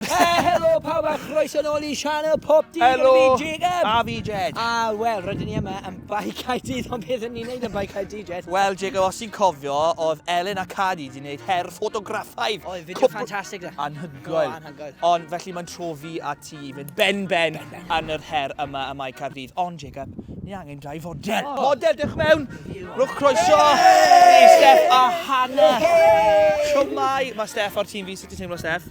Helo pawb a chroeso nôl i sianel Pop Dydd Helo, fi Jacob. A fi Jed. A wel, rydyn ni yma yn Bai Caerdydd, ond beth yn ni'n neud yn Bai Caerdydd, Jed? Wel, Jacob, os ti'n cofio, oedd Elin a Cadi wedi gwneud her ffotograffaidd. Oedd, fideo cwpl... ffantastig da. Anhygoel. anhygoel. Ond felly mae'n trofi a ti i fynd ben-ben ben, ben. yn yr her yma y mae Caerdydd. Ond, Jacob, ni angen dau fodel. Oh. Model, dewch mewn. Rwch croeso. Hey! Steff a Hannah. Hey! Siwmai. Mae Steff o'r tîm fi. Sut ti'n teimlo, Steff?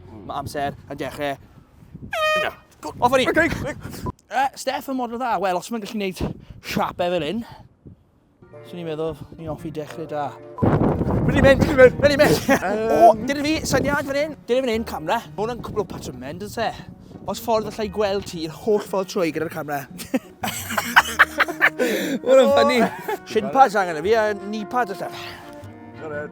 Mae amser yn dechrau. Na. Off o'n i. Okay. Uh, Steph yn model dda. Wel, os mae'n gallu gwneud siapau e fel hyn, swn i'n meddwl ni off i dechrau da. Mae'n i'n mynd, mynd, mynd i'n mynd. O, dyna fi, syniad fan hyn. Dyna fan hyn, camera. Mae hwnna'n cwbl o patrymau, dyn se. Os ffordd allai gweld ti i'r holl ffordd trwy gyda'r camera. Mae'n ffynnu. Shin pads angen y fi a knee pads allan. Got it.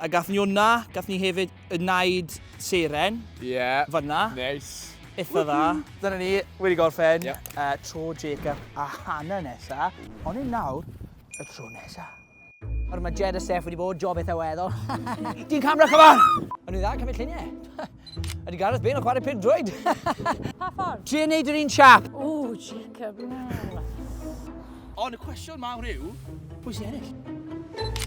A gath ni wna, gath ni hefyd y naid seren. Ie. Yeah. Fanna. Neis. Itha dda. Dyna ni, wedi gorffen. Yep. Uh, tro Jacob a Hannah nesa. Ond yn nawr, y tro nesa. Yr mae Jed a Steph wedi bod, job eitha weddol. Di'n camera, come on! Yn dda, cymryd lluniau. Ydy Gareth Bale yn chwarae pin drwyd. pa ffordd? Ti'n neud yr un siap. O, Jacob, na. Ond y cwestiwn mawr yw, pwy sy'n ennill?